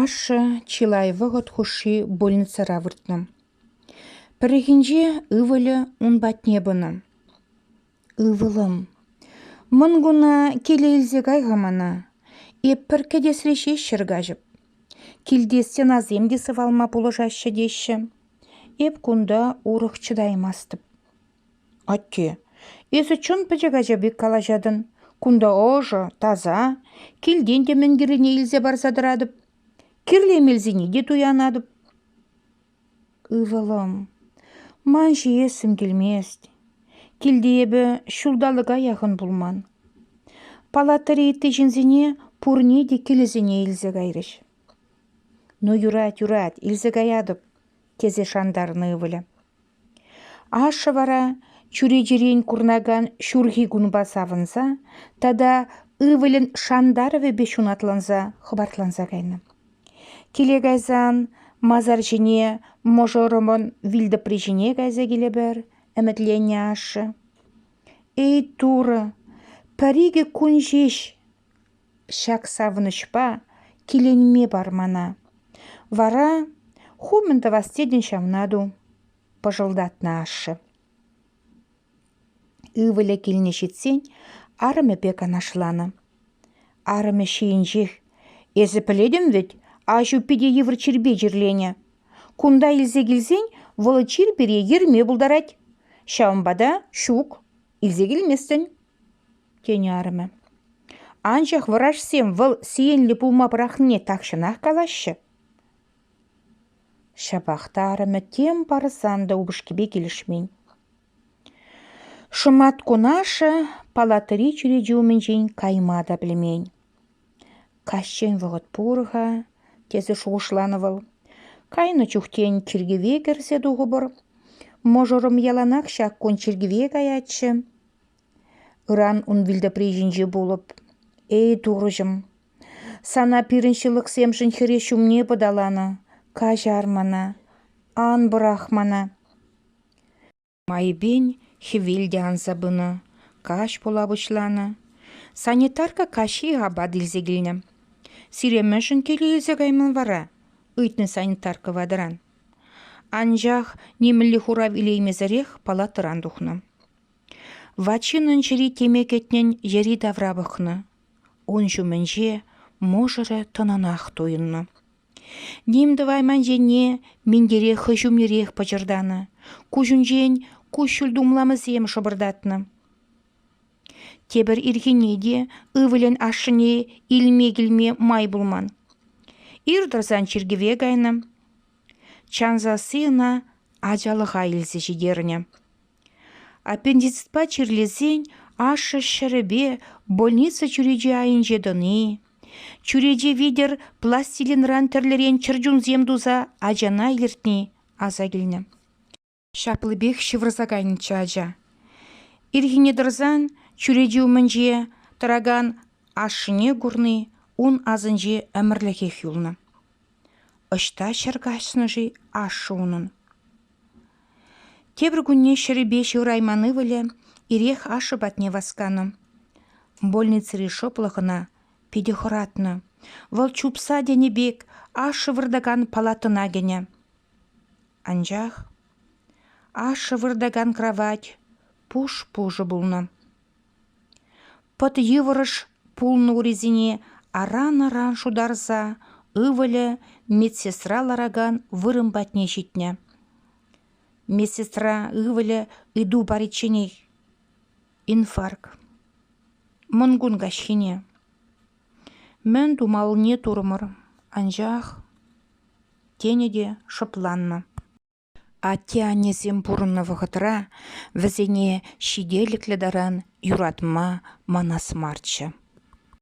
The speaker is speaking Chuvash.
Ашшӗ чылай вӑхӑт хушши больницӑра выртнӑ. Пӗррехинче ывӑлӗ ун патне пынӑ. «Ывӑлӑм, мӑн куна киле илсе кай-ха мана. Эп пӗр кӗтесре ҫеҫ ҫӗр каҫӑп. Килте стенасем те сывалма пулӑшаҫҫӗ теҫҫӗ. Эп кунта урӑх чӑтаймастӑп. Атте, эсӗ чӑн пӗчӗк ача пек калаҫатӑн. Кунта ӑшӑ, таса. Килтен те мӗн кирлине илсе парса тӑратӑп. Кирлӗ эмелсене те туянатӑп. Ывӑлӑм, ман ҫиессӗм килмест. Килте эпӗ ҫулталӑка яхӑн пулман. Палатӑри ытти ҫынсене пурне те килӗсене илсе кайрӗҫ. Ну, юрать, юрать, илсе каятӑп, тесе шантарнӑ ывӑлӗ. Ашшӗ вара чӳречерен курӑнакан ҫурхи кунпа савӑнса тата ывӑлӗн шантарӑвӗпе ҫунатланса хӑпартланса кайнӑ. Киле кайсан масар ҫине мӑшӑрӑмӑн вилтӑпри ҫине кайса килӗпӗр, ӗмӗтленнӗ ашшӗ. «Эй, Турӑ, пӗр-икӗ кун ҫеҫ!» Ҫак савӑнӑҫпа киленме пар мана. Вара ху мӗн тӑвас тетӗн ҫавна ту, пӑшӑлтатнӑ ашшӗ. Ывӑлӗ килне ҫитсен арӑмӗпе канашланӑ. Арӑмӗ ҫийӗнчех «Эсӗ пӗлетӗн вӗт, аҫу питӗ йывӑр чирпе чирленӗ. Кунта илсе килсен вӑл чир пире ерме пултарать. Ҫавӑнпа та ҫук, илсе килместӗн». тенӗ арӑмӗ. «Анчах вӑрашсем вӑл сиенлӗ пулма пӑрахнине тахҫанах калаҫҫӗ». Ҫапах та арӑмӗ тем парсан та упӑшкипе килӗшмен. Шӑматкун ашшӗ палатӑри чӳрече умӗнчен кайма та пӗлмен. «Каҫчен вӑхӑт пур-ха», — тесе шухӑшланӑ вӑл. «Кайнӑ чухтен чиркӗве кӗрсе тухӑпӑр. Мӑшӑрӑм яланах ҫак кун чиркӗве каятчӗ. Ыран ун вилтӑпри ҫинче пулӑп. Эй, Турӑҫӑм, сана пирӗн ҫылӑхсемшӗн хӗре ҫумне пӑталанӑ. Каҫар мана, ан пӑрах мана. Майӗпен хӗвел те анса пынӑ, каҫ пула пуҫланӑ. Санитарка каҫхи апат илсе килнӗ. Сире мӗншӗн киле илсе кайман вара? ыйтнӑ санитарка ватӑран. Анчах нимӗнле хурав илеймесӗрех палатӑран тухнӑ. Вачин ун чӗри теме кӗтнӗн йӗри-тавра пӑхнӑ. Ун ҫумӗнче мӑшӑрӗ тӑнӑнах туйӑннӑ. Ним тӑвайман енне минтере хӑй ҫумнерех пӑчӑртанӑ. Куҫӗнчен куҫҫуль тумламӗсем шӑпӑртатнӑ. Тепӗр ирхине те ывӑлӗн ашшӗне илме-килме май пулман. Ир тӑрсан чиркӗве кайнӑ. Чан сасси ӑна ачалӑха илсе ҫитернӗ. Аппендицитпа чирлесен ашшӗ ҫӗрӗпе больница чӳречи айӗнче тӑни, чӳрече витӗр пластилинран тӗрлӗрен чӗрчунсем туса ачана илӗртни аса килнӗ. Ҫаплипех ҫывӑрса кайнӑччӗ ача. Ирхине тӑрсан чӳрече умӗнче тӑракан ашшӗне курни ун асӗнче ӗмӗрлӗхех юлнӑ. Ӑҫта ҫӗр каҫнӑ-ши ашшӗ унӑн? Тепӗр кунне ҫӗрӗпе ҫывӑрайман ывӑлӗ ирех ашшӗ патне васканӑ. Больницӑри шӑплӑх ӑна питӗ хӑратнӑ. Вӑл чупса тенӗ пек ашшӗ выртакан палатӑна кӗнӗ. Анчах ашшӗ выртакан кравать пуш-пушӑ пулнӑ. Пӑт йывӑрӑш пулнӑ урисене аран-аран шутарса ывӑлӗ медсестра ларакан вырӑн патне ҫитнӗ. Медсестра ывӑлӗ ыйту паричченех инфаркт. Мӑнкун каҫхине. Мӗн тумаллине турӑмӑр, анчах тенӗ те шӑпланнӑ. Атте-аннесем пурӑннӑ вӑхӑтра вӗсене ҫителӗклӗ таран юратма манас марччӗ.